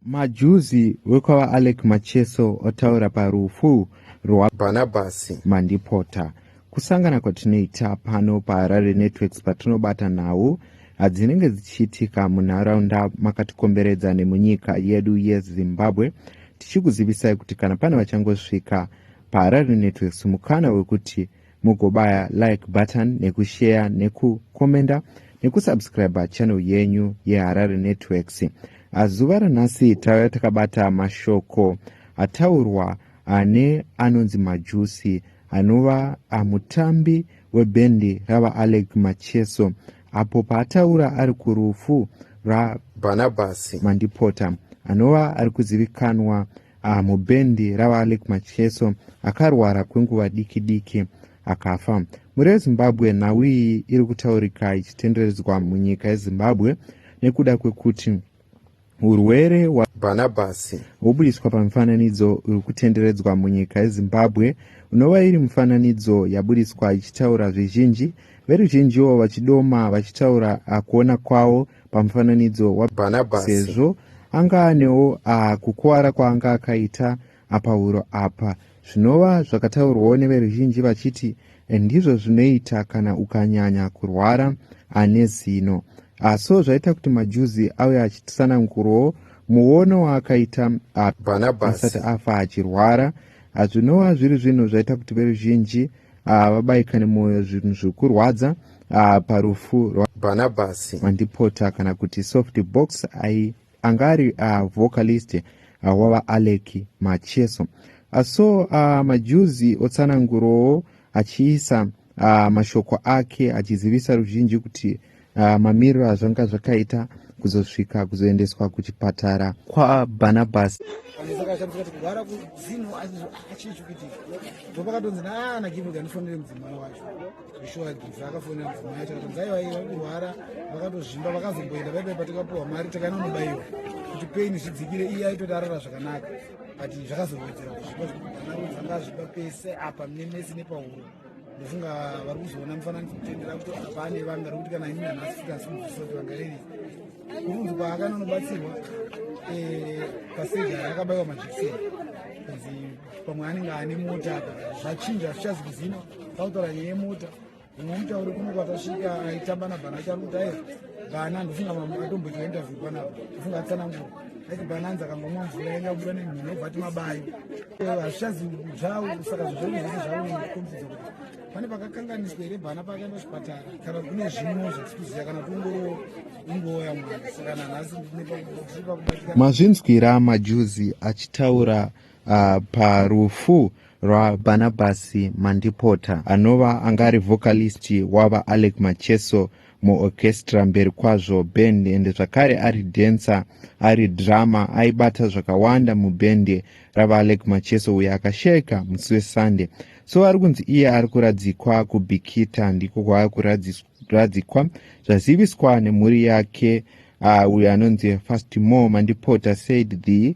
Majuzi wekwava Alec Macheso otaura parufu rwaBhanabhasi Mandipota. Kusangana kwatinoita pano paHarare Networks patinobata nhau dzinenge dzichiitika munharaunda makatikomberedza nemunyika yedu yeZimbabwe tichikuzivisai kuti kana pane vachangosvika paHarare Networks mukana wekuti mugobaya like button nekushare nekukomenda nekusubscribe channel yenyu yeharare networks azuva ranhasi tauya takabata mashoko ataurwa ane anonzi majusi anova amutambi webhendi ravaalex macheso apo paataura ari kurufu rabarnabasi mandipota anova ari kuzivikanwa Ah, mubhendi raVaAlec Macheso akarwara kwenguva diki diki akafa. Mhuri yeZimbabwe nhau iyi iri kutaurika ichitenderedzwa munyika yeZimbabwe nekuda kwekuti urwere hwaBhanabhasi hwobudiswa pamifananidzo uri kutenderedzwa munyika yeZimbabwe unova iri mifananidzo yabudiswa ichitaura zvizhinji veruzhinjiwo vachidoma vachitaura akuona kwavo pamufananidzo waBhanabhasi sezvo anga anewo kukuvara kwaanga akaita apahuro apa zvinova zvakataurwawo neveruzhinji vachiti ndizvo zvinoita kana ukanyanya kurwara ane zino so zvaita kuti majuzi auye achitsanangurawo muono waakaita bhanabhasi asati afa achirwara hazvinova zviri zvinhu zvaita kuti veruzhinji ah, vabaikane mwoyo zvinhu zvekurwadza ah, parufu rwabanabhasi mandipota kana kuti soft box ai anga ari ah, vocalist wava alec macheso so majuzi otsanangurowo achiisa mashoko ake achizivisa ruzhinji kuti uh, mamiriro azvanga zvakaita kuzosvika kuzoendeswa kuchipatara kwabarnabas kuti pain zvidzikire iye aitoti arara zvakanaka but zvakazowedzera kuzvipa zvekuti ana ruzanga zvipa pese apa mnemesi nepahuro ndofunga vari kuzoona mufananidzo kutendera kuti apane vanga rokuti kana ini nhasi futi asi mubvisa kuti vanga riri kurunzi kwaakanonobatsirwa eh, paseja rakabaiwa majekiseni kanzi pamwe anenge ane mota apa zvachinja hazvichazi kuzina tautaura nyaya yemota umwe mutauri kuno kwatasvika aitamba nabhana acharuta ayo bhana ndofunga mamwe atomboita interview panapa ndofunga atsanangura Bananzi akangomwa mvura yanga yabuda nemhino obva ati mabayo hazvichazi zvawo saka zvezvei zvaokombidza kuti pane pakakanganiswa here bana paakaenda kuchipatara kana kune zvimwe zvatikuziva kana kungoro ingooya mwana saka nanhasi mazvinzwira majuzi achitaura uh, parufu rwabanabasi mandipota anova angari vocalist wava alec macheso muorchestra mberi kwazvo band ende zvakare ari dancer ari drama aibata zvakawanda mubhende ravalek macheso uyo akasheka musi wesunday so ari kunzi iye ari kuradzikwa kubikita ndiko kwava kuradzikwa zvaziviswa nemhuri yake uh, uyo anonzi fastmore mandipota said the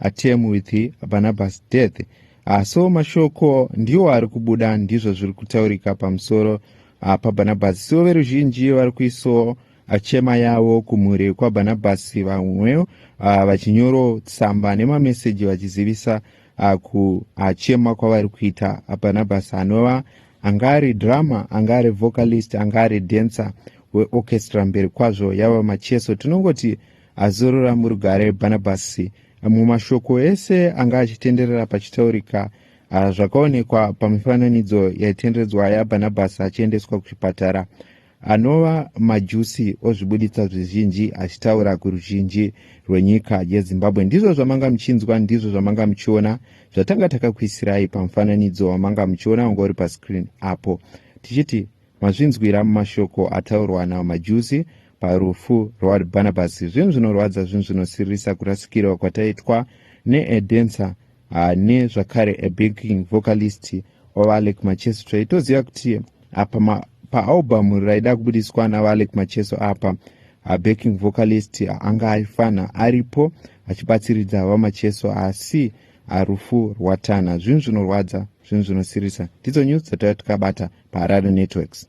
atm with barnabas death ah, so mashoko ndiwo ari kubuda ndizvo zviri kutaurika pamusoro ah, pabarnabas so veruzhinji vari kuisawo achema yavo kumhuri kwabarnabasi vamwewo ah, vachinyoro tsamba nemameseji vachizivisa ah, kuachema ah, kwavari kuita barnabasi anova anga ari drama anga ari vocalist anga ari dancer weorchestra mberi kwazvo yava macheso tinongoti azorora murugare bhanabhasi amwe mashoko ese anga achitenderera pachitaurika ah, zvakaonekwa pamifananidzo yaitenderedzwa yabhanabhasi achiendeswa kuchipatara anova majusi ozvibuditsa zvizhinji achitaura kuruzhinji rwenyika yezimbabwe ndizvo zvamanga muchinzwa ndizvo zvamanga muchiona zvatanga takakuisirai pamufananidzo wamanga muchiona wanga uri pascreen apo tichiti mazvinzwira mumashoko ataurwa namajusi Parufu rwaWard Barnabas zvinhu zvinorwadza zvinhu zvinosiririsa kurasikirwa kwataitwa needencer ah, nezvakare abanking vocalist waVaalec Macheso taitoziva kuti apa paalbhamu raida kubudiswa naVaalec Macheso apa abanking vocalist anga aifanha aripo achibatsiridza VaMacheso asi rufu rwatana zvinhu zvinorwadza zvinhu zvinosirisa ndidzo news dzataiva tikabata paharare networks